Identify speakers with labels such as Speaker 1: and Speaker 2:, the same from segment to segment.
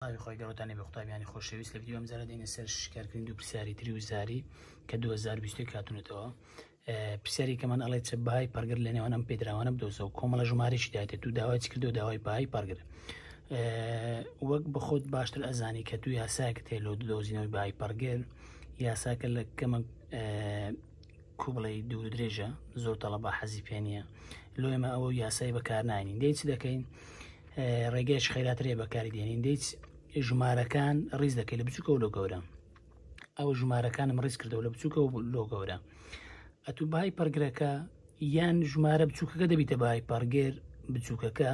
Speaker 1: ئاوی خۆی گەڕتان نەبێ قوتابیانی خۆشەویست لە ڤیدیۆ ئەمجارە دێنە سەر شیکارکردن دوو پرسیاری تری و زاری کە 2020 کاتونەتەوە پرسیاری کەمان ئەڵێ چ بای پەرگر لە نێوان ئەم پێدراوانە بدۆزە و کۆمەڵە ژمارەشی دایێت دوو داوای کردو داوای پای پەرگر وەک بەخۆت باشتر ئەزانی کە دوو یاساکە تێ لۆ دۆزینەوەی بای پەرگر یاساکە لە کەمە کو بڵێی دوور و درێژە زۆر تەڵەبا حەزی پێ نییە لۆ ئێمە ئەوە یاسای بەکارنانین دەی چ دەکەین ڕێگەیش خێراترێ بەکاری دێنین دەیچ ژمارەکان ڕیز دەکەی لە بچووکە و لۆ گەورە ئەو ژمارەکانم ڕیز کردەوە لە بچووکە و لۆ گەورە ئەتو بای پڕگرەکە یان ژمارە بچووکەکە دەبیتە بای پەڕگێر بچووکەکە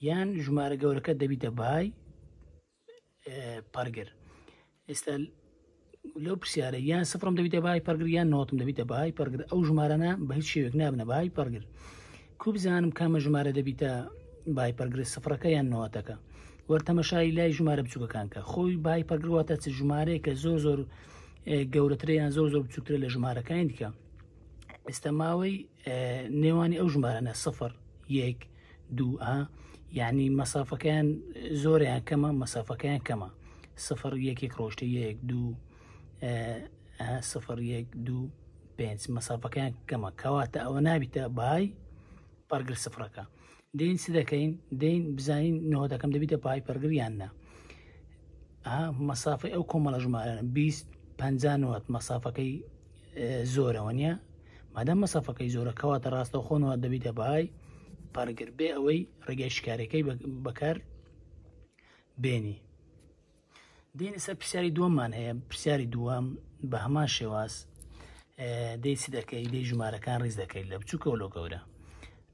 Speaker 1: یان ژمارە گەورەکە دەبیتە بای پەڕگر ئێستا لەو پرسیارە یان سفرم دەبیتە بای پەرگر یان نۆتم دەبیتە بای پەرگر ئەو ژمارانە بە هیچ شێوێک نابنە بای پەرگر کو بزانم کامە ژمارە دەبیتە بای پەرگر سفرەکە یان نۆتەکە وەرتەمەشای لای ژمارە بچووکەکان کە خۆی بای پەرگرواتە چ ژمارەیە کە زۆر زۆر گەورەتریان زۆر زۆر بچووکترە لە ژمارەکانی دیکە ئێستا ماوەی نێوانی ئەو ژمارانە سفر یەک دووئا یعنی مەسافەکەیان زۆریان کەمە مەسافەکەیان کەمە سفر یەکێک ڕۆشتە یەک دوو سفر یەک دوو پێنج مەسافەکەیان کەمە کەواتە ئەوە نابیتە بای پەرگر سفرەکە دین چ دەکەین دین بزانین نەوە دەکەم دەبیتە پای پەرگریان نە مەسافی ئەو کۆمەڵە ژمارە 20 50 مەسافەکەی زۆرەوە نیە مادەم مەسەفەکەی زۆرە کەواتە ڕاستە خۆنەوە دەبیتە بەهای پارگر بێ ئەوەی ڕێگەی شکارەکەی بەکار بێنی دێنە سەر پرسیاری دووەممان هەیە پرسیاری دووەم بە هەمان شێواز دەیسی دەکەی دەی ژمارەکان ڕیز دەکەیت لە بچووکەوە لۆ گەورە